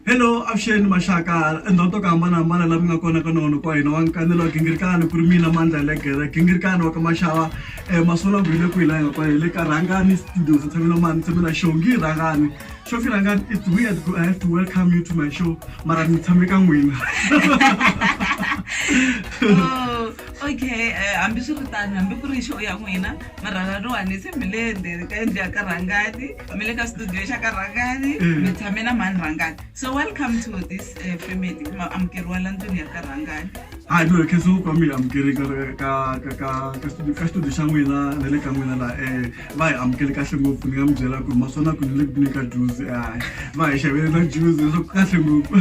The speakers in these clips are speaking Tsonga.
hello avuxeni maxaka endhawu to ku hambanahambana laha mi nga kona ka nona kwa hina wa nkanelo wa gingirikani ku ri mina mandla legere gingirikani wa ka maxava um masolo ku hi le ku hi laha nga kona hi le ka rhangani studio ndzi tshamela mani tshame na show ngi rhangani show fi rhangani it's weird ku i have to welcome you to my show mara ni tshame ka n'wina Oh, okay eh, hambi swi ri tano hambi ku ri show ya n'wina marhala lowani se mi le ndzeni ka yindlu ya ka rhangani mi le ka studio xa ka rhangani Mm. mi tshame na mhani rhangani so welcome to this eh, family ma amukeriwa la ndlwini ya ka rhangani hayi ndzi khensa ku ka mi hi amukeli ka ka ka ka ka studio ka studio xa n'wina na le ka n'wina laha eh va hi amukeli kahle ngopfu ni nga mi byela ku ri maswona ku ni le ku ni ka juzi hayi va hi xavele na juzi leswaku kahle ngopfu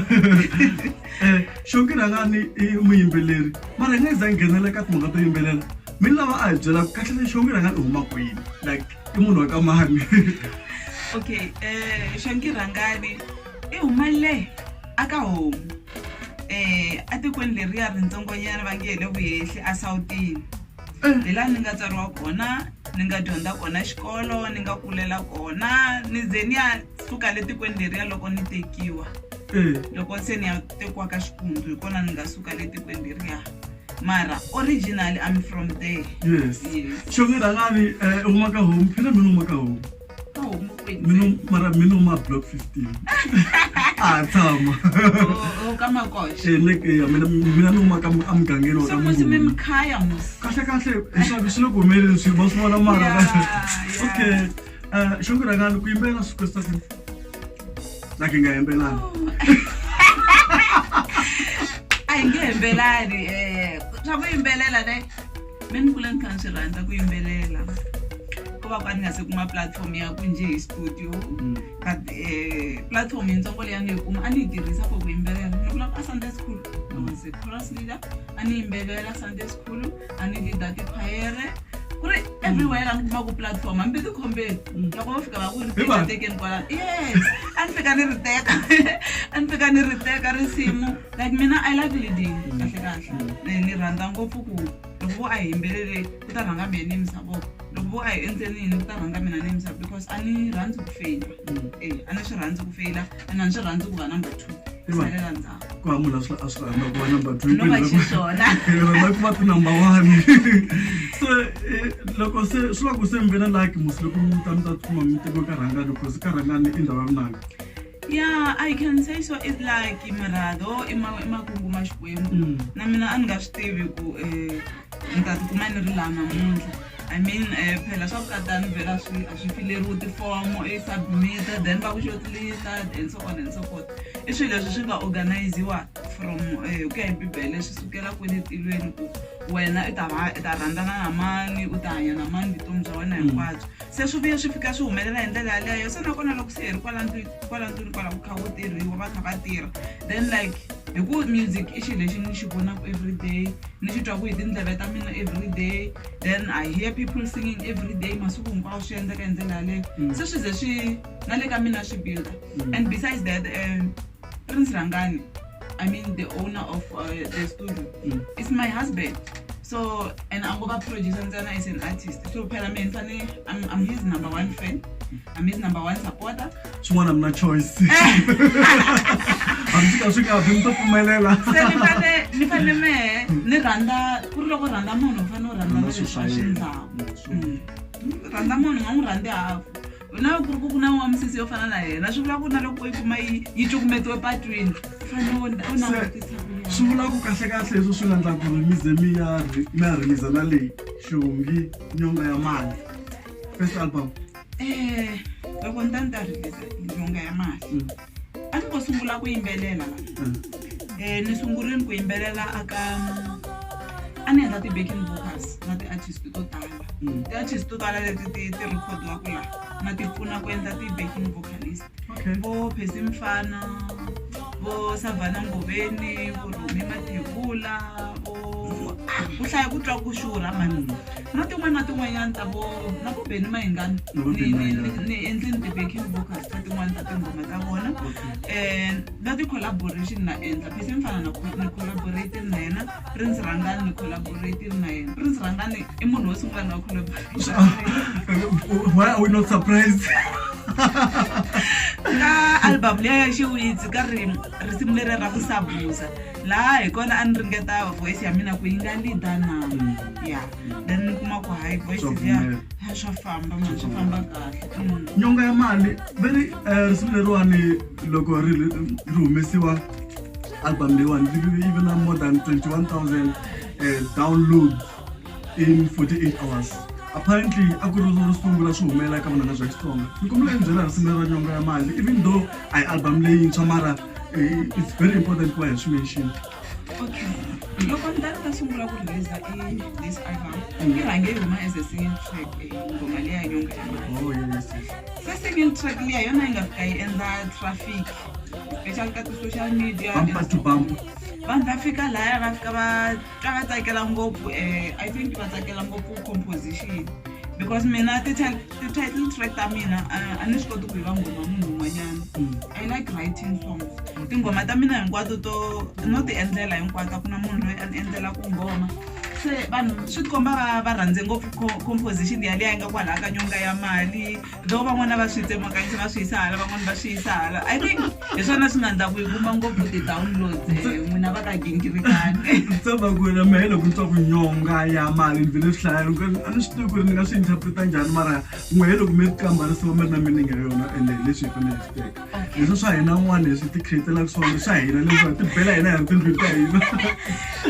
eh xonki rhangani i muyimbeleri mara hi nga za nghenela ka timhaka to yimbelela mi lava a hi byela kahle lexi wa n'wina nga ni huma kwini like i munhu wa ka mani okay um xangirhangani i huma le a ka homu um etikweni leriya rintsongonyana va nge hi le vuhehli a sawutini eh. hi laha ni nga tswariwa kona ni nga dyondza kona xikolo ni nga kulela kona ni ze ni ya suka le tikweni leriya loko ni tekiwa eh. loko se ni ya tekiwa ka xikundu hi kona ni nga suka le tikweni leriya mara originally i'm from there yes xonge rhangani eh, u maka home phela mina u maka home mara mina uma block 15 a tshama mina ni uma amugangeni wa kahle kahle leswaku swi le ku humeleni swi va swi vona mara okay eh, xonge rhangani ku yimbelela swi kwestakini na ki nga hembelani a hi nge hembelani um swa ku yimbelela ne me ni kule ni kha ni swi rhandza ku yimbelela ku va ka ni nga se kuma platform ya ku njhe hi studio mm. but um platform yintsongo leyi a ni yi kuma a ni yi tirhisa for ku yimbelela ni vula ka sunday school i was a cross leader a ni yimbevela sunday school a ni lida tikhwayere ku ri everywhere la ni kuma ku platform hambi tikhombeni loko va fika va ku ripeta tekeni kwalano yes a ni fika ni ri teka a ni fika ni ri teka risimu like mina i like leading kahle kahle ni rhandza ngopfu ku loko vo a hi yimbelele ku ta rhanga mina ni yimisa voko loko vo a hi endleni yini ku ta rhanga mina ni yimisa because a ni rhandzi ku feyila e a ni swi rhandzi ku feyila and a ndzi rhandzi ku va number two salela ndzhaku ku va munhu a swi a swi rhandza ku va number two no va xiswona hi rhandza ku va ti-number one se eh, loko se swi va ku se mi ve na laki musi loko mi ta mi ta tikuma mi teko ka rhangani because ka rhangani i ndhawu ya vunanga yeah i can say so it's like murhado i ma- i makungu ma xikwembu Mm. na mina a ni nga swi tivi ku um ni ta tikuma ni ri laha namuntlha i mean um phela swa vukatani vhela a swi a swi fileriwi tifomo i submit-a then va ku xotlita and so on and so forth i swilo leswi swi nga organiziwa from um ku ya hi bibele swi sukela kwini tilweni ku wena i ta i ta rhandzana na mani u ta hanya na mani vutomi bya wena hinkwabyo se swi vuye swi fika swi humelela hi ndlela yaleyo se nakona loko se hi ri kwala ndlwini kwala ndlwini kwala ku kha ku tirhiwa va kha va tirha then like hi ku music i xilo lexi ni xi vonaka everyday ni xi twaku hi tindleve ta mina everyday then i hear people singing everyday masiku hinkwawo swi endleka hi ndlela yaleyo mm. se swi ze swi na le ka mina swi builda mm. and besides that um prince rangani i mean the owner of uh, the studio mm. is my husband so and ango va producer ntsena is an artist so phela mina ni fane i'm his number one fan I'm his number one supporter. Chimwana mna choice. Hamsika swika hapi mto pfumelela. Se ni fane ni fane me ni rhandza ku ri loko rhandza munhu u fane u rhandza leswi swa xindhawu. Mm. Rhandza munhu nga n'wi rhandzi hafu. na loko ku ri ku ku na wa misisi yo fana na yena swi vula ku na loko yi kuma yi yi cukumetiwe patwini u fanele u langutisa swi vula ku kahlekahle leswi swi nga ndla ku ri mize mi ya mi ya rhimiza na leyi xihungi nyonga ya mali first album Eh, loko ni ta ni ta rilisa ndlunga ya mati Mm. a ni ngo sungula ku yimbelela Mm. eh ni sungurile ku yimbelela aka a ni endla ti-backing vocals na ti-artist to tala Mm. ti-artist to tala leti ti ti recordiwaku laha na ti pfuna ku endla ti-backing vocalist okay. vo phesi mfana vo savhana ngoveni vo rhumi mathevula vo ku hlaya ku twa ku xurha mani na tin'wana na tin'wanyana ta vo na vo beni mahingana Na vo Benny Mayengani. ni endlini ti-backing vocals ta tin'wana ta tinghoma ta vona um na ti-collaboration na endla phesi mfana na ni collaborate na yena Prince Rhangani ni collaborate na yena. Prince Rhangani i munhu wo sungula na collaborate. Why are we not surprised? Ka album leyi ya Xiwitsi ka ri risimu leri ra ku sabuza laha hi kona a ni ringeta voice ya mina ku yi nga leader na ya then ni kuma ku hayi voice ya ya swa famba mani swa famba kahle Mm. nyonga ya mali veri eh, risimu leriwani loko ri ri humesiwa Album Day One, we even have more than 21,000 uh, eh, downloads in 48 hours. apparently a ku ri ro sungula swi humelela eka vunanga bya xitsonga ni kombela yi byela risimu ra nyonga ya mali even though a yi album leyintshwa mara eh, it's very important ku va hi swi mention okay loko ni ta ni ta sungula ku releasa i this album yi rhange yi huma as a single track eh, ngoma leya nyonga ya mali oh, se single track leya yona yi nga fika yi endla traffic especially ka ti-social media bumper to bumper vanhu va fika laya va fika va twa va tsakela ngopfu um i think va tsakela ngopfu composition because mina ti-title track ta mina a ni swi koti ku yi va nghoma munhu un'wanyana mm. i like writing songs tinghoma ta mina hinkwato to no ti endlela hinkwato a ku na munhu loyi a ni endlela ku nghoma se vanhu swi tikomba va va rhandze ngopfu composition yaleyi a yi nga kwalaha ka nyonga ya mali though van'wana va swi tsemakanyisa va swi yisa hala van'wana va swi yisa hala i think hi swona swi nga ndla ku yi kuma ngopfu ti-downloads eh, n'wina va ka gingirikani tsaba ku wena mehe loko ni twa ku nyonga ya mali ni vele swi hlaya loko a ni swi tivi ku ri ni nga swi interpreta njhani mara n'wehe loko mi ri kambarisiwa mi ri na meaning ya yona ende hi leswi hi fanele hi swi teka leswi swa hina n'wana leswi ti createlaka swona swa hina leswi ti bela hina hi ri tindlwini ta hina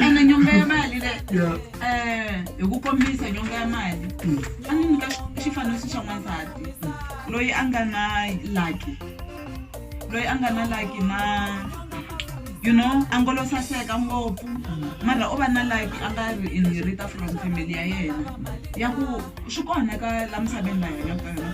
ene nyonga ya mali le Yeah. um hi ku kombisa nyonga ya mali a ni nyika xifaniso xa n'wansati loyi a nga na laki loyi a nga na laki na you know a ngolo saseka ngopfu mara u va na laki a nga ri inherita from family ya yena ya ku swi kona ka la misaveni la hina ka yona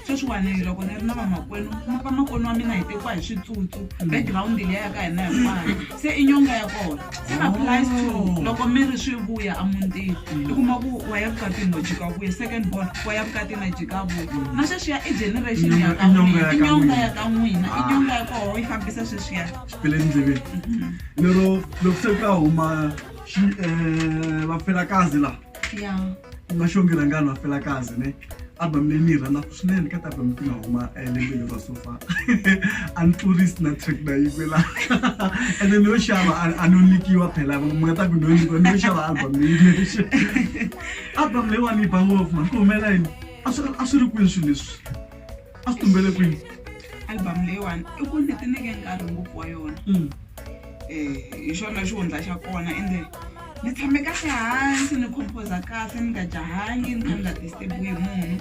sweswiwani loko ni ri na vamakwenu vamakwenu wa mina hi tekiwa hi switsutsu background leya ya ka hina hinkwayo se i nyonga ya kona se applies to oh. loko mi ri swi vuya emutini i kuma ku wa ya vukatini no jika vuya second born wa ya vukatini na jika vuya na sweswiya i generation ya ka n'wina i nyonga ya ka n'wina i nyonga ya koho yi fambisa sweswiya xipele endleveni mhm. lero loko se ka huma eh, vapfelakazi laha ya ungaxongela ngani wafela kazi ne album leyi ni yi rhandzaka swinene ka album ti nga huma eh, lembe leri ra sofa a ni tlurisi na track na yi kwela ene no xava a- a no nyikiwa phela mi nga ta ku no nyikiwa no xava album leyi lexe album leyiwani yi ba ngopfu mani ku humela yini a swi a swi ri kwini swilo leswi a swi tumbele kwini album leyiwani i ku ni tineke nkarhi ngopfu wa yona um hi xona xihundla xa kona ende ni tshame kahle hansi ni composa kahle ni nga jahangi ni kha ni nga disturbiwi hi munhu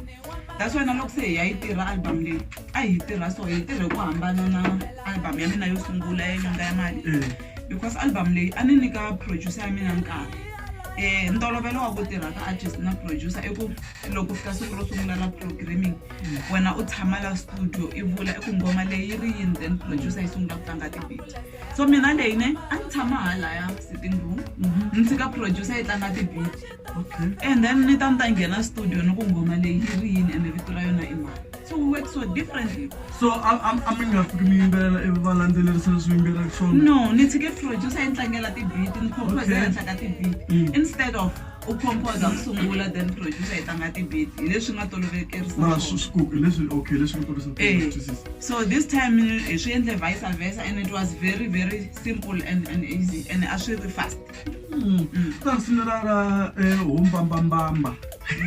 that's why na loko se hi ya yi tirha album leyi a hi tirha so hi tirhe ku hambana na album ya mina yo sungula ya nyanga ya mali because album leyi a ni nyika producer ya mina nkarhi um ntolovelo wa ku tirha ka artist na producer i ku loko fika siku ro sungula ra programming wena u tshama la studio i vula i ku nghoma leyi yi ri yini then producer yi sungula ku tlanga tibit so mina leyi ne a ni tshama halaya sitting room mhm. ni tshika producer yi tlanga tibit and then ni ta ni ta nghena studio ni ku nghoma leyi yi ri yini ene vito ra yona i mali so we work so differently so a mi nga fiki mi yimbelela ivi va landzelerisa leswi yimbelelaka swona no ni tshike producer yi ni tlangela tibit ni composer henhla ka tibit mm. instead of u composa ku sungula then producer yi tlanga ti-beat hi leswi nga tolovekerisa na swona. swi swi ku leswi okay leswi nga tolovekerisa ku Eh. twisisa so this time eh, hi swi endle vice versa and it was very very simple and, and easy and a swi ri fast ta risimu ra ra eh, hombambambamba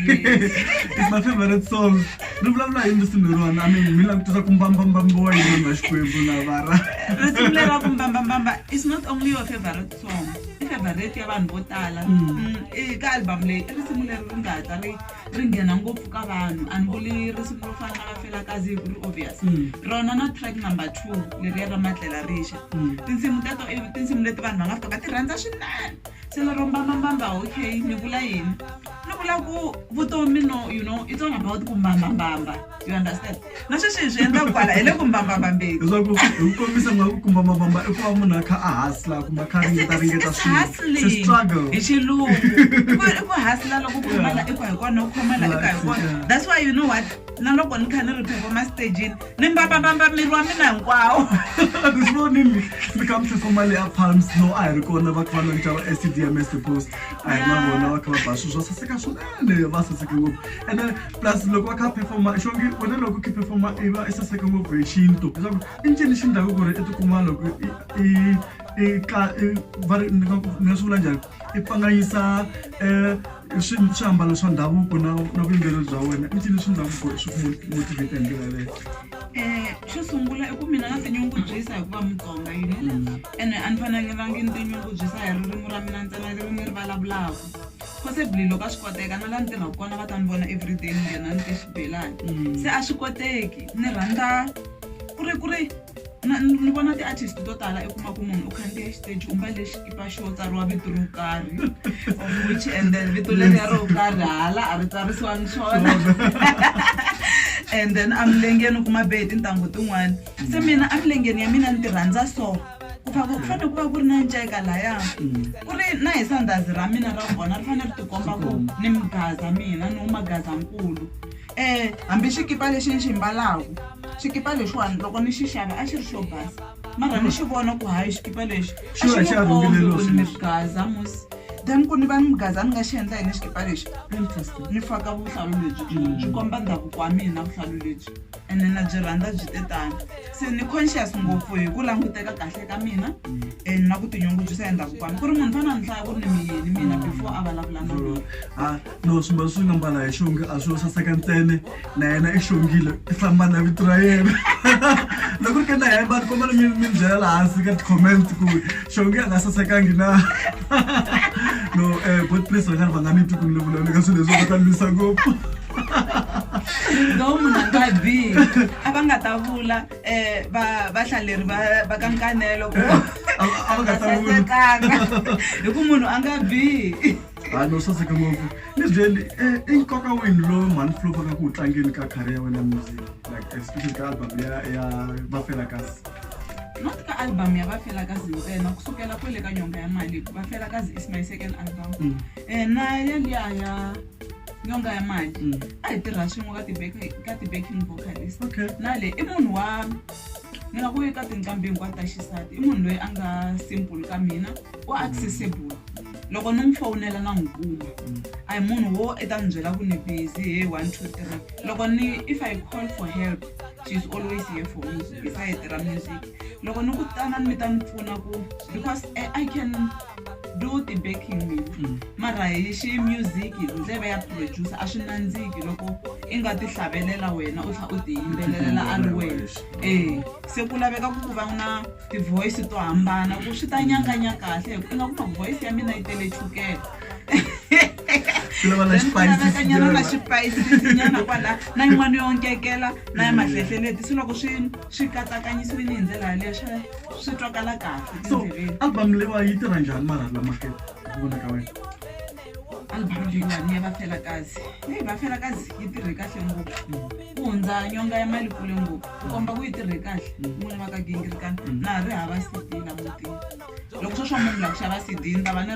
yes. It's my favorite song ri vulavula hi risimu lerona i mean mi la ku tisa ku mbambambambiwa yini vanhu va xikwembu lavara risimu lera vumbambambamba is not only your favorite song i favorite ya vanhu vo tala eka album leyi i risimu leri ri nga ta ri ri nghena ngopfu ka vanhu a ni vuli risimu ro fana na va fela kazi hi ku ri obvious rona na track number two leriya ra matlela rixa tinsimu teto i tinsimu leti vanhu va nga fika va ti rhandza swinene se lero mbambambamba okay ni vula yini ni vula ku vutomi no you know it's all about ku mbambambamba you understand na sweswi hi swi endla kwala hi le ku mbambambambeni leswaku hi ku kombisa nga ku kumba mabamba i ku va munhu a kha a hasla kumbe a kha a ringeta ringeta It's swilo hustling. It's a struggle hi xilungu I ku- i ku hasla loko ku khoma la i ku hi kona u khoma la i ka hi kona Yeah. that's why you know what na loko ni kha ni ri performa stageni ni mbambambamba miri wa mina hinkwawo This morning, ni kha mi tlhefoma le ya palms no a hi ri kona va kha va lonca va acdms post a hi na Yeah. vona va kha va ba swilo swo saseka swinene va saseke ngopfu ene plus loko va kha performa xongi wena loko ki performa i va i saseka ngopfu hi xintu leswaku i ncini xi ndhaku ku ri i tikuma loko i i ka va ri ni nga swi vula njhani i pfanganyisa um swiambalo swa ndhavuko na na vuyimbeleri bya wena i ncini swi ndhaku ku ri swi ku motivate hi ndlela yaleyo um xo sungula i ku mina na tinyungubyisa hikuva mutsonga you know mm. ene a ni fanangelangi ni tinyungubyisa hi ririmi ra mina ntsena ririmi ri vulavulaka possibly loko a swi koteka na laha ni tirhaka kona va ta ni vona everyday ni nghena ni te xibelani se a swi koteki ni rhandza ku ri ku ri na- ni ni vona ti-artist to tala i kuma ku munhu u khandziya xiteji u mbale xikipa xo tsariwa vito ro karhi of which and then vito leriya ro karhi hala a ri tsarisiwangi swona and then a milengeni u kuma be hi tintangu tin'wana se mina a milengeni ya mina ni ti rhandza so ku pfa ku fanele ku va ku ri na nceka laya ku ri na hi sandazi ra mina ra vona ri fanele ri tikomba ku ni migaza mina ni magazankulu um hambi xikipa lexi ni xi mbalaku xikipa lexiwani loko ni xi xava a xi ri xo basa mara ni xi vona ku hayi xikipa lexi a xi ni kombi ku ni migaza musi then ku ni va ni migaza ni nga xi endla hi ni xikipa lexi ni faka vuhlalu lebyi byi komba ndhavuko wa mina vuhlalu lebyi ene na byi rhandza byi te tano se ni conscious ngopfu hi ku languteka kahle ka mina and na ku tinyungubyisa hi ndhavuko wami ku ri munhu fana nhlaya ku ri ni miyeni mina before a vulavula na mina ha no swimbalo swi nga mbala hi xongi a swi yo saseka ntsene na yena i xongile i famba na vito ra yena loko ri ke na hemba ni kombela mi mi byela laha hansi ka ti-comment ku xongi a nga sasekangi na no um bot priest va nga ri va nga ni twi ku ni le vulavula ka swilo leswi va ta lwisa ngopfu though munhu a nga bihi a va nga ta vula um vahlaleri va ka nkanelo ku a va sasekanga hi ku munhu a nga bihi a no saseke ngopfu ni byeli eh, i nkoka wini lowu mhani flo vaka ku wu tlangeni ka khari ya wena music like especially ka album ya ya vafela kasi not ka album ya vafela kazi ntsena kusukela kwele ka nyonga ya mali vafela kazi is my second album mm. eh, na yaliya ya nyonga ya mali mm. a hi tirha swin'we ka ti-backing vocalist na le i munhu wa ni nga ku eka tinqambi hinkwato ta xisati i munhu loyi a nga simple ka mina u accessible loko ni n'wi fowunela na n'wi kuma a hi munhu wo i ta ni byela ku ni busy he one two three loko ni if i call for help she's always here for me hi sayiti ra music loko ni ku tanani mi ta ni pfuna ku because eh, i can do the backing me mara hi xi music hi ndleve ya producer a swi nandziki loko i nga ti hlavelela wena u tlha u ti yimbelelela a ri wena e se ku laveka ku ku va na ti-voice to hambana ku swi ta nyanganya kahle hi ku i nga kuma voice ya mina yi tele chukela nyana na xipayisisinyana kwala na yin'wana yo nkekela na ya mahlehleleti se loko swi swi katsakanyisiwile hi ndlela yaleyo swa swi twakala kahle so album lewa yi tirha njhani mara lamakhe vona ka wena album leyiwani ya vafelakazi leyi vafelakazi yi tirhe kahle ngopfu ku hundza nyonga ya mali kule ngopfu ku komba ku yi tirhe kahle n'wini va ka gingirikana mm. na ha ri hava cd la mutini loko sweswo munhu la ku xava cd ni ta va ni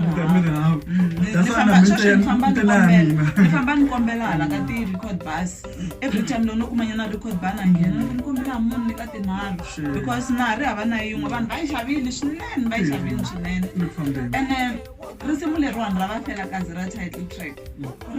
rihafamba ni kombela hala ka ti-record bus every time loko no kuma nyana record bana nghena loko ni kombela munhu ni ka tinharhu Sure. because na ha ri hava na yin'we vanhu va yi xavile swinene va yi xavile swinene Ni fambeni. ene risimu leriwani ra va fela kazi ra title track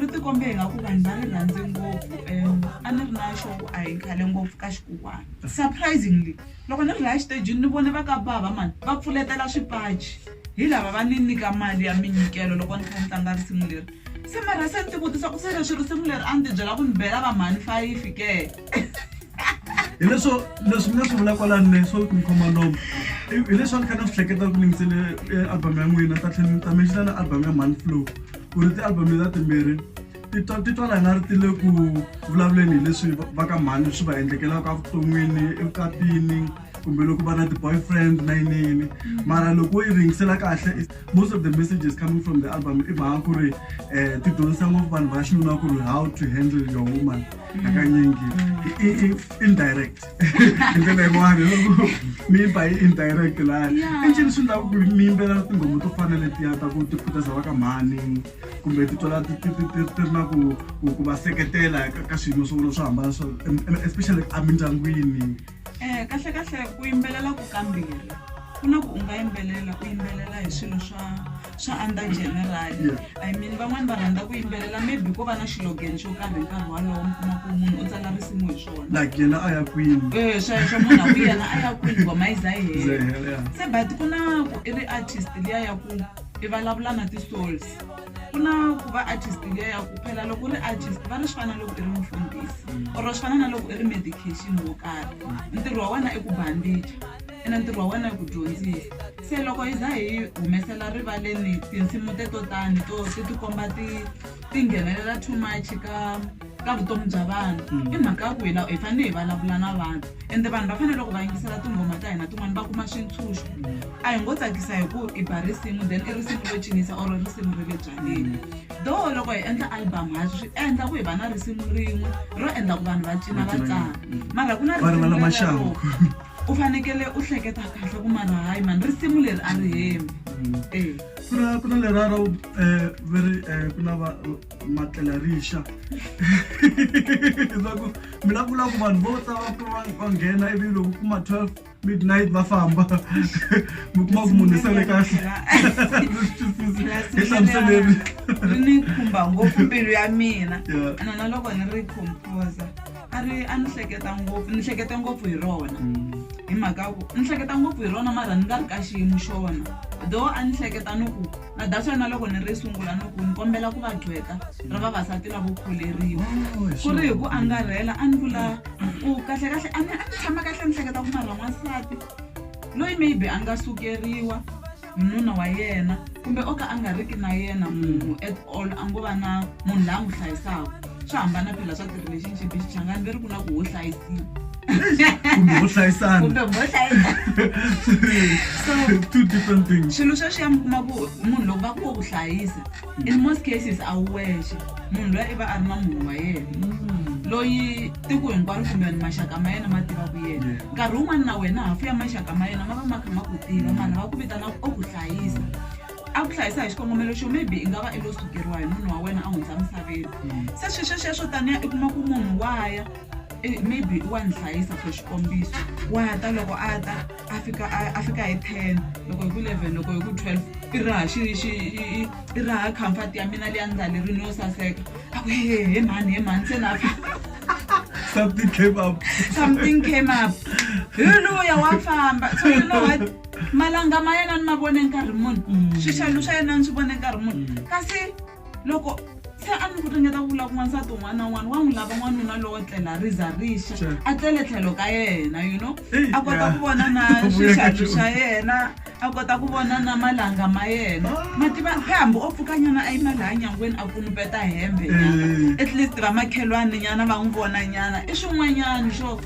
ri tikombe hi nga ku vanhu va ri rhandze ngopfu um a ni ri na xoku a hi khale ngopfu ka xikuwana surprisingly loko ni ri laya xitejini ni vone va ka bava mani va pfuletela swipaci hi lava va ni nyika mali ya minyikelo loko ni kha ni tlanga risimu leri Se mara se ni ti vutisa ku se leswi risimu leri a ni ti byela ku ni bela va mhani fayifi ke hileswo leswi mi nga swi vula kwalani le swo mi khoma nomo hi leswi a ni kha na swi hleketa ku ningisele eh, album ya n'wina ta tlhela ni ta menxina na album ya mhani flow ku ri ti-album leta timbirhi ti twa- ti twala nga ri ti le ku vulavuleni hi leswi va- va ka mhani swi va endlekelaka evuton'wini evukatini kumbe loko va na ti-boyfriend na yiniyini mara loko wo yi ringisela kahle most of the messages coming from the album i mhaka ku ri um ti dyondzisa ngopfu vanhu va xinuna ku ri how to handle your woman hakanyingi indirect hi ndlela yin'wana loko mi yi ba yi indirect laya i ncini swi ndlaku ku mi yimbelela tinghoma to fana letiya ta ku ti khutaza va ka mhani kumbe ti twala ti ri na ku va seketela ka swiyimo swo vona swo hambana swo especially emindyangwini Eh, kahle kahle ku yimbelela ku kambirhi ku na ku u nga yimbelela u yimbelela hi swilo swa swa under general i mean van'wani va rhandza ku yimbelela maybe ko va na xilogeni xo karhi hi nkarhi walowo mi kuma ku munhu u tsala risimu hi swona like yena a ya kwini Eh, sweswo munhu a ku yena a ya kwini ngoma yi za yi Ze hela hela, yeah. se but ku na ku i ri artist liya ya ku i vulavula na ti-souls ku na ku va artist liya ya ku phela loko u ri artist va ri swi fana na loko i ri mufundhisi or swi fana na loko i ri medication wo karhi ntirho wa wena i ku bandija ene ntirho wa wena i ku dyondzisa se loko hi za hi humesela rivaleni tinsimu teto tani to ti tikomba ti ti nghenelela too much ka ka vutomi bya vanhu mm. i mhaka ya ku hi hi fanele hi vulavula na vanhu ende vanhu va fanele loko va yingisela tinghoma ta hina tin'wana va kuma swintshunxo mm. a hi ngo tsakisa hi ku i ba risimu then i risimu ro cinisa or risimu ri le byaleni mm. do loko hi endla album ha swi endla ku hi va na risimu rin'we ro endla ku vanhu va cina va tsaka mara ku na risimu u fanekele u hleketa kahle ku mara hayi mani risimu leri a ri hemi eh. ku na ku na leraro um eh, veri um eh, ku na va matlela rixa leswaku mi la vula ku vanhu vo ta va nghena ivi loko kuma 12 midnight va famba mi kuma ku munhu sele kahle hi hlamuseleni ri ni khumba ngopfu mbilu ya mina ana na loko ni ri composa a ri a ni hleketa ngopfu ni hleketa ngopfu hi rona mm. hi mhaka ku ni hleketa ngopfu hi rona mara ni nga ri ka xiyimo xona though a ni hleketa ni ku na that's why na loko ni ri sungula no ku ni kombela ku va gqweta ra vavasati lavo kholeriwa Oh, ku ri hi ku angarhela a ni vula ku kahlekahle a ni a ni tshama kahle ni hleketa ku marha n'wansati loyi maybe a nga sukeriwa hi nuna wa yena kumbe o ka a nga riki na yena munhu at all a ngo va na munhu la a n'wi hlayisaka swa hambana phela swa ti-relationship xichangani veri ku na ku ho hlayisiwa kumbe ho hlayisana kumbe ho hlayisana so two different things swilo sweswiya mi kuma ku munhu loko va ku wo ku hlayisa in most cases a wu wexe munhu loyi i va a ri na munhu wa yena mm. loyi tiko hinkwaro kumbe maxaka ma yena ma tiva ku yena nkarhi wun'wana na wena hafu ya maxaka ma yena ma va ma kha ma ku tiva mm. vanhu va ku vitana o ku hlayisa a ku hlayisa hi xikongomelo xo maybe i nga va i lo sukeriwa hi munhu wa wena a hundza misaveni se swi swesweswo taniya i kuma ku munhu wa ya eh, maybe wa ni hlayisa for xikombiso wa ta loko a ta a fika a- a fika hi ten loko hi ku eleven loko hi ku twelve i raha xi- xi- i- i raha comfort ya mina leya ndhalerini yo saseka a ku he he mhani he mhani se na fika something came up something came up hi luya wa famba so you know what malanga ma yena ni ma vone nkarhi muni mm. swixalu swa yena ni swi vone nkarhi muni mm. kasi loko se a ni ku ringeta ku vula kun'wansati un'wana na un'wana wa n'wi lava n'wanuna lowo tlela ri za rixa a tlele tlhelo ka yena you know a kota ku vona na swixalu swa yena a kota ku vona na malanga ma yena ah. mativa se hambi o pfuka nyana a yima laha nyangweni a kunupeta hembe nyana at least vamakhelwani nyana va n'wi vona nyana i swin'wanyana swo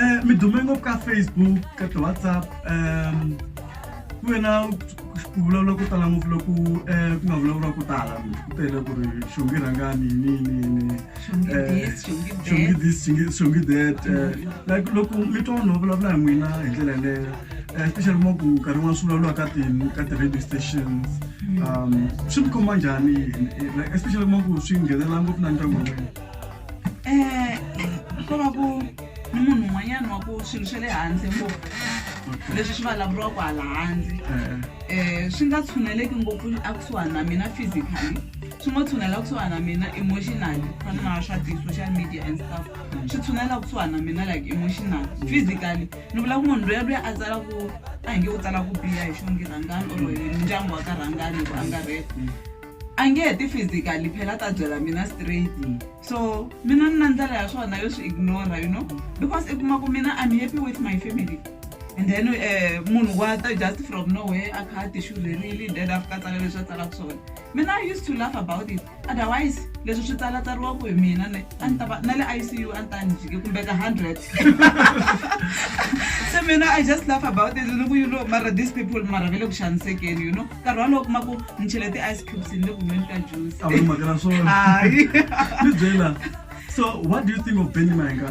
Eh, mi dume ngopfu ka facebook ka ti-whatsapp um ku ve na ku vulavula ku tala ngopfu loko um ku nga vulavuriwa ku tala ku tele ku ri xongi rhangani yiniyiniyini xongi this xongi that eh, like loko mi twa vanhu va vulavula hi n'wina hi ndlela yaleyo um especially mo ku nkarhi n'wana swi vulavuriwa ka ti ka ti-radio stations um swi mi khoma njhani especially mo ku swi nghenelela ngopfu na ndyangu wa n'wina um ko va ku ni munhu un'wanyana wa ku swilo swa le handle ngopfu leswi swi vulavuriwaka hala handle um swi nga tshuneleki ngopfu akusuhani na mina physically swi ngo tshunela kusuhani na mina emotionally fana na swa ti-social media and stuff swi tshunela kusuhani na mina like emotional physically ni vula ku munhu loya loya a tsala ku a hi nge u tsala ku biha hi xongi rhangani or hi ndyangu wa ka rhangani hi ku angarhela a nge heti physically phela ta byela mina straight so mina ni na ndlela ya swona yo swi ignora you know because i kuma ku mina i'm happy with my family and then eh, munhu wa ta just from nowhere a kha a tixurherile then a fika tsala leswi a tsalaka swona mina i used to laugh about it otherwise leswi swi tsalatsariwaku hi mina ne a ni ta va na le icu a ni ta ni jike kumbe ka hundred se mina i just laugh about it ni ku you know mara these people mara ve le ku xanisekeni you know nkarhi walowo kuma ku ni chele ti-ice cubes ni le ku nweni ka juice a wu mhaka na swona hayi ni byela so what do you think of benny mayenga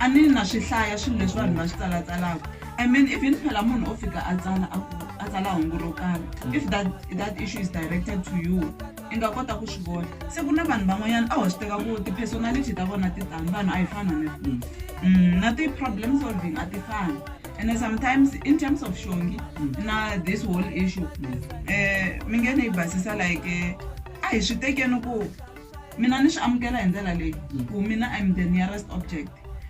A ni na swi hlaya swilo leswi vanhu va swi tsalatsalaka. I mean even phela munhu o fika a tsala a ku a tsala hungu ro karhi. If that that issue is directed to you i nga kota ku swi vona. Se ku na vanhu van'wanyana a ho swi teka ku ti-personality ta vona ti tani vanhu a hi fani hambi kwihi. Na ti-problem solving a ti fani ene sometimes in terms of xongi na this whole issue mi nge ni yi basisa like a hi swi tekeni ku. mina ni swi amukela hi ndlela leyi ku mina im the nearest object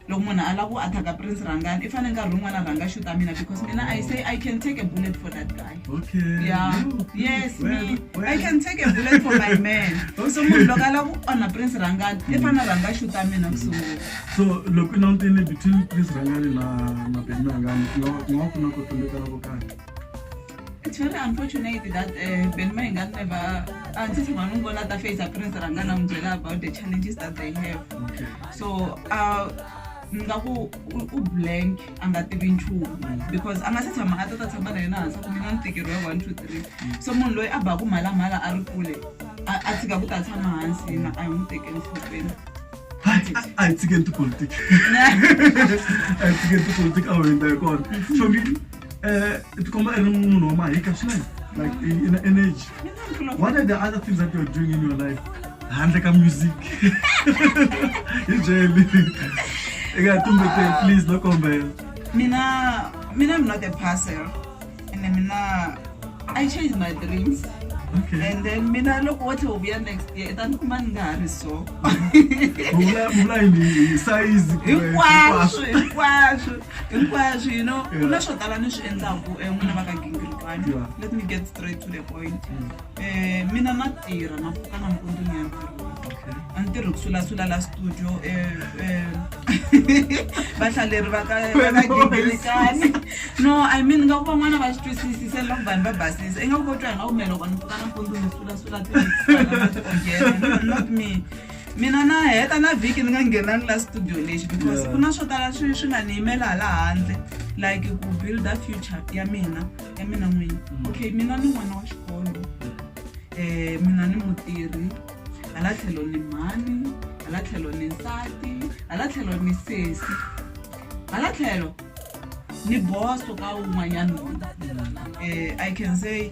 loko munhu a lava ku attack-a prince rhangani i fanele nkarhi wun'wana rhanga xuta mina because mina i say i can take a bullet for that guy okay yeah yes me i can take a bullet for my man so munhu loko a lava ku onha prince rhangani i fanele rhanga xuta mina ku sungula so loko i langutile between prince rhangani na na benrangani ku nga ku nga ku na ku tumbetana ko karhi It's very unfortunate that uh, Benma Ingat never, until Manungola Tafe is a prince Rangana Mjela about the challenges that they have. Okay. So, uh, nga ku u blank a nga tivi nchumu because a nga se tshama a ta ta tshama na yena hansi ku mina ntikero ya one two three so munhu loyi a baku mhalamhala a ri kule a a tshika ku ta tshama hansi yena a hi n'wi teke enhlokweni a hi tshikeni tipolitiki a hi tshikeni tipolitiki a wu hundza hi kona famili Uh, it come a ri munhu wa mahika swinene like in, in energy what are the other things that you're doing in your life handle ka music hi byeli eka tumbete please no kombela mina mina i'm not a passer and mina i change my dreams Okay. And then mina loko wo tlhe u vuya next year ta ni kuma ni nga ha ri so vula yini size hinkwaswo hinkwaswo hinkwaswo you know ku na swo tala ni swi endlaku um n'wina va ka gingirikani let me get straight to the point um mina na tirha na pfuka na mpundzu ni ya ntirhweni a ni tirhi ku sulasula la studio um vahlaleri va ka gingirikani no i mean nga ku van'wana va swi twisisi se loko vanhu va basisa i nga ku ko twa hi nga kumele loko ni pfuka na mpundzu ni sulasula tiogere not me mina na heta na vhiki ni nga nghenangi la studio lexi because ku na swo tala swi swi nga ni yimela hala handle like ku builda future ya mina ya mina n'wini mm. okay mina ni n'wana wa xikolo um mina ni mutirhi hala tlhelo ni mhani hala tlhelo ni nsati hala tlhelo ni sesi hala tlhelo ni boso ka wun'wanyana um i can say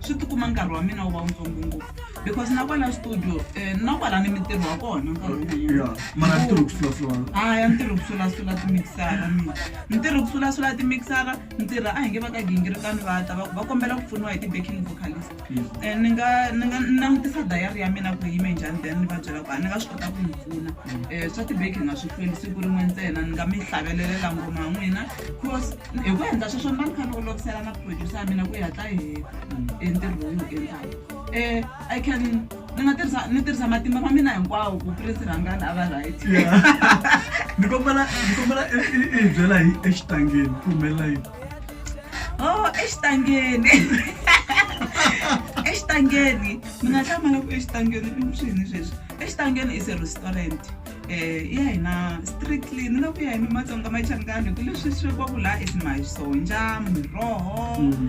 swi tikuma nkarhi wa mina wu va wutsongo ngopfu because na kwala studio um na kwala ni mintirho wa kona nkarhi wun'wanyana mara ntirho kusulasula haya ntirho kusulasula timixara mina ntirho kusulasula timixara ntirha a hi nge va ka gingirikani va ta va ku va kombela ku pfuniwa hi ti-backing vocalist um ni nga ni nga ni langutisa dayari ya mina ku yime njhani then ni va byela ku a ni nga swi kota ku mi pfuna um swa ti-backing a swi hlweli siku rin'we ntsena ni nga mi hlavelelelela ngoma n'wina because hi ku endla sweswo ni va ni kha ni olovisela na producer ya mina ku ya ta heta entirho lowu ni endlaka um i can ni nga tirhisa ni tirhisa matimba ma mina hinkwawo ku prince rhangana a va right ni kombela ni kombela i i- i hi byela hi exitangeni ku humelela yini oh exitangeni exitangeni ni nga hlamala ku exitangeni i swini sweswi exitangeni is a restaurant Eh, ya hina strictly ni nga ku ya hi mimatsonga machangani ku leswi swi va ku laha is masonja miroho um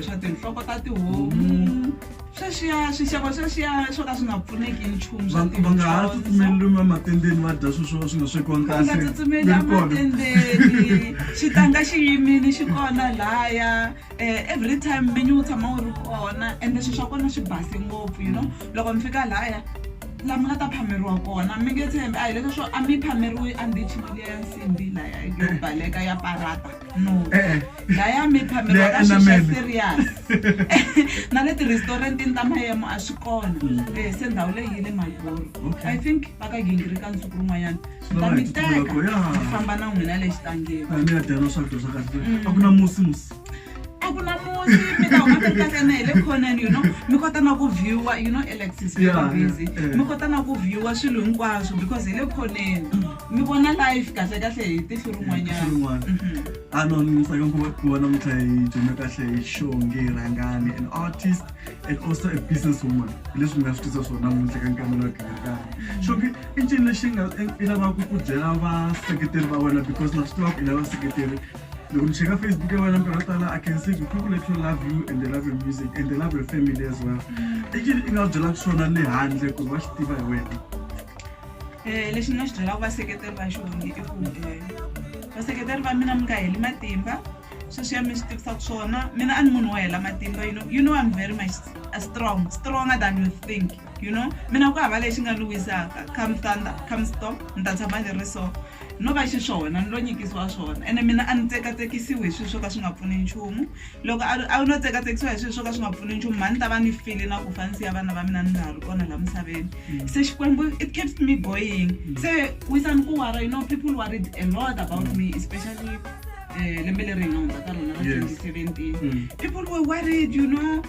swa tinhloko ta tihomu sweswiya swixevo sweswiya swo ka swi nga pfuneki hi nchumu swa va va nga ha tidyondzo. tsutsumeleli mamatendeni va dya sweswo swi nga swekiwanga va nga kahle tsutsumeli Ni ri kona. amatendeni xitanga xi yimini xi kona laya every time vinyi wu tshama wu ri kona ende swilo swa kona swi base ngopfu you know loko mi fika lahaya laha mi nga ta phameriwa kona mi nge tshembi a hi leswa swo a mi phameriwi a ndichi mali ya nsimbi laya yo baleka ya parata no Eh. laya mi phameriwa ka Leya swilo swa enamele. serious na le ti-restaurantini ta mayemo a swi kona Eh, se ndhawu leyi yi le malboro Okay. i think va ka gingirika nsuku rin'wanyana ta mi teka mi famba na n'wina le xitangeni a mi ya dyana swakudya swa kahle mm. a ku na musi musi a ku na musi mi ta huma mi kahle na hi le khoneni you know mi kota na ku viewa you know alexis busy mi kota na ku viewa swilo hinkwaswo because hi le khoneni mi vona life kahle kahle hi tihlo rin'wanyana mhm. a no ni tsaka ku vona mutha hi dyondza kahle hi xonge rhangani an artist and also a business woman hi leswi mi nga swi tisa swona muntle ka nkamela wa gingakani xonge i ncini lexi nga i lavaka ku byela vaseketeri va wena because na swi tiva ku i lava seketeri loko ni cheka facebook ya wena nkarhi tala i can see the people that you love you and they love your music and they love your family as well mm. i ncini i nga byelaka swona le handle ku ri va swi tiva hi wena um lexi ni nga xi byelaka vaseketeri va xona i ku eh, vaseketeri va mina mi nga heli matimba sweswi ya mi swi tivisaka swona mina a ni munhu wo hela matimba you know, you know i'm very much strong stronger than you think you know mina ku hava lexi nga ni wisaka come thunder come storm ni ta tshama ni ri so no va xiswona ni lo nyikisiwa swona ene mina a ni tsekatsekisiwi hi swilo swo ka swi nga pfuni nchumu loko a no tsekatsekisiwa hi swilo swo ka swi nga pfuni nchumu mhani ta va ni file na ku fanisi ya vana va mina ni nga ha ri kona laha misaveni mm. se xikwembu it keeps me going mm. se wisani ku wara you know people worried a lot about me especially um lembe leri hi nga hundza ka rona ra 2017 mm. people were worried you know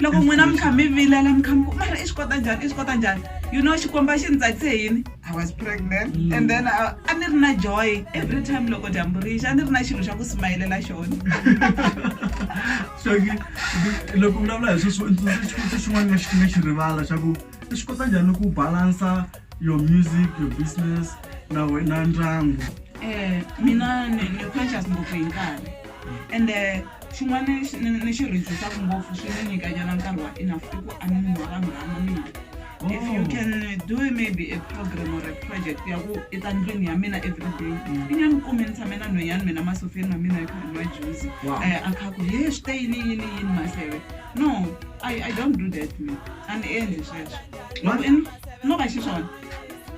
loko n'wina mi kha mi vilela mi kha mi ku mara i swi kota njhani i swi kota njhani you know xikomba xi ni tsakise yini i was pregnant mm. and then uh, a ni ri na joy every time loko dyambu ri xa a ni ri na xilo xa ku simayelela xona xoki loko vulavula hi sweswo xivutiso xin'wana lexi nga xi rivala xa ku i swi kota njhani ku balansa your music your business na wena ndyangu um mina ni conscious ngopfu hi nkarhi and uh, Xin'wana ni ni xi rhejisaku ngopfu swi ni nyikanyana nkarhi wa enough i ku a ni munhu wa vanghana mina if you oh. can do maybe a program or a project ya ku i ta ndlwini ya mina every day mm. i nga ni kumi ni tshame na nhwenyani mina masofeni ma mina yi kha nwa juzi eh, a kha ku he swi te yini yini yini maseve no i don't do that me a ni endli sweswo loko i no va xiswona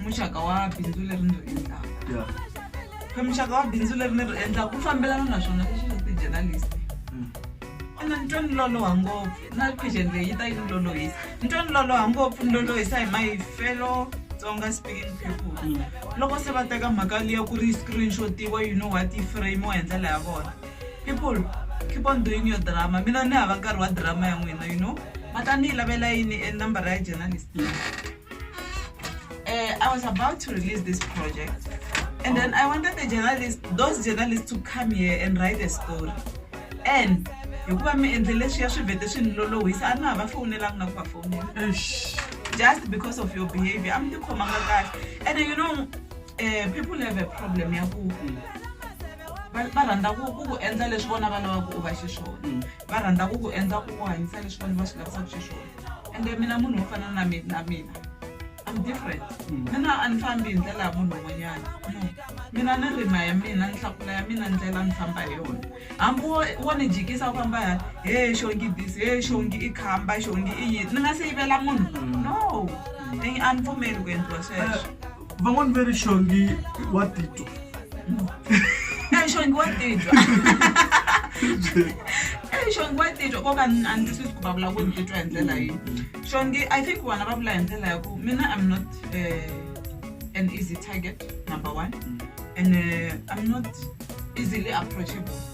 muxaka wa bindzu leri ni ri endlaka Yeah. ka muxaka wa bindzu leri ni ri endlaka ku fambelana na swona leswi swa ti-journalist Mm. ona ni twa ni loloha ngopfu na question leyi yi ta yi ni lolohisa ni twa ni loloha ngopfu ni lolohisa hi mayifelo tsonga speaking people Mm. loko se va teka mhaka liya ku ri yi screenshotiwa you know what yi framiwa hi ndlela ya vona people keep on doing your drama mina ni hava nkarhi wa drama ya n'wina you know ma ta ni yi lavela yini e nambara ya journalist Uh, I was about to release this project, and oh. then I wanted the journalist, those journalists, to come here and write a story. And hikuva mi endle leswiya swi vhete swi ni lolohisa a na ha va fowunelanga na ku va fowunela just because of your behavior a mi tikhomanga kahle and you know uh, people have a problem ya ku va rhandza ku ku ku endla leswi vona va lavaka u va xiswona mm. va rhandza ku ku endla ku ku hanyisa leswi vona va swi lavisaka xiswona ende mina munhu wo fana na mi- na mina I'm different mina a ni fambi hi ndlela ya munhu un'wanyana no mina ni rima ya mina ni hlakula ya mina ndlela ni famba hi yona hambi wo wo ni jikisa u famba ya he xongi this he xongi i khamba xongi i yini ni nga se yivela munhu no a ni pfumeli ku endliwa sweswo van'wani ve ri xongi wa titwa Eh, xongi wa titwa Eh, xongi wa titwa koka a ni twisisi ku va vula ku ni titwa hi ndlela yihi xongi i think vona va vula hi ndlela ya ku mina i'm not eh, an easy target number one and eh, i'm not easily approachable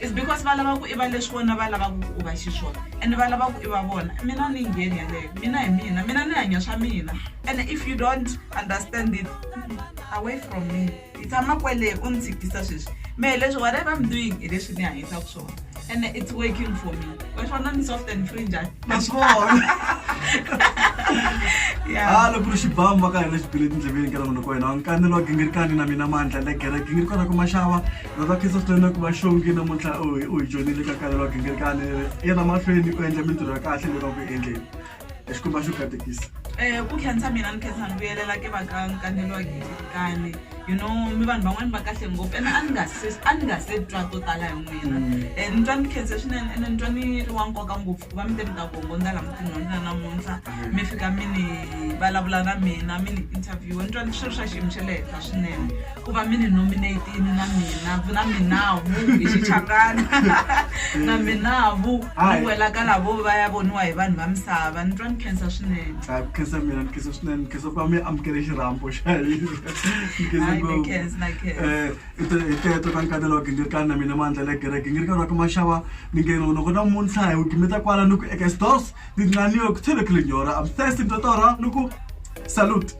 is because va lava ku i va leswi vona va lavaka ku u va xiswona and va lava ku i va vona mina ni ngheni yeleyo mina hi mina mina ni hanya swa mina and if you don't understand it away from me yi tshama kwele u ni tshikisa sweswi me hi leswi whatever i'm doing hi leswi ni hanyisaka swona and it's working for me wa swona ni soft and free njhani na swi vona ha loko ri xibamu va ka hina xipile etindleveni ka na munhu ka wena nkanelo wa gingirikani na mina mandla le gereke ngiri kona ku maxava Vavakristo swinene ku va xongi namuntlha u hi u hi dyondzile ka khale vagingirikani yena mahlweni u endla mintirho ya kahle leyi va ku endleni hi xikomba xo katekisa Eh, ku khensa mina ni khensa ni vuyelela ke va ka nkanelo wa gingirikani you know mi vanhu van'wani va kahle ngopfu ene a ni nga se a ni nga se twa to tala hi n'wina um ni twa ni khense swinene ene ni twa ni ri wa nkoka ngopfu ku va mi te mi ta gongondza la mutini wa mina namuntlha mi fika mi ni vulavula na mina mi ni interview ni twa ni swi ri swa xiyimo xa le henhla swinene ku va mi ni nominate-ini na mina na minavu hi xichangana na minavu Hayi. ni wela ka lavo va ya voniwa hi vanhu va misava ni twa ni khensa swinene Ah, ku khensa mina ni khensa swinene ni khensa ku va mi amukele xirhambo xa hina ni khensa Hayi, ngopfu. ni khensa, na khensa. Eh, hi te- hi teto ka nkatelo wa gingirikani na mina mandla le gereke ngirikani wa ka maxava ni nge loko namuntlha hi wu gimeta kwala ni ku eka stos ni nganiwe ku tshele kilinyora am thirsty ntotora ni ku salute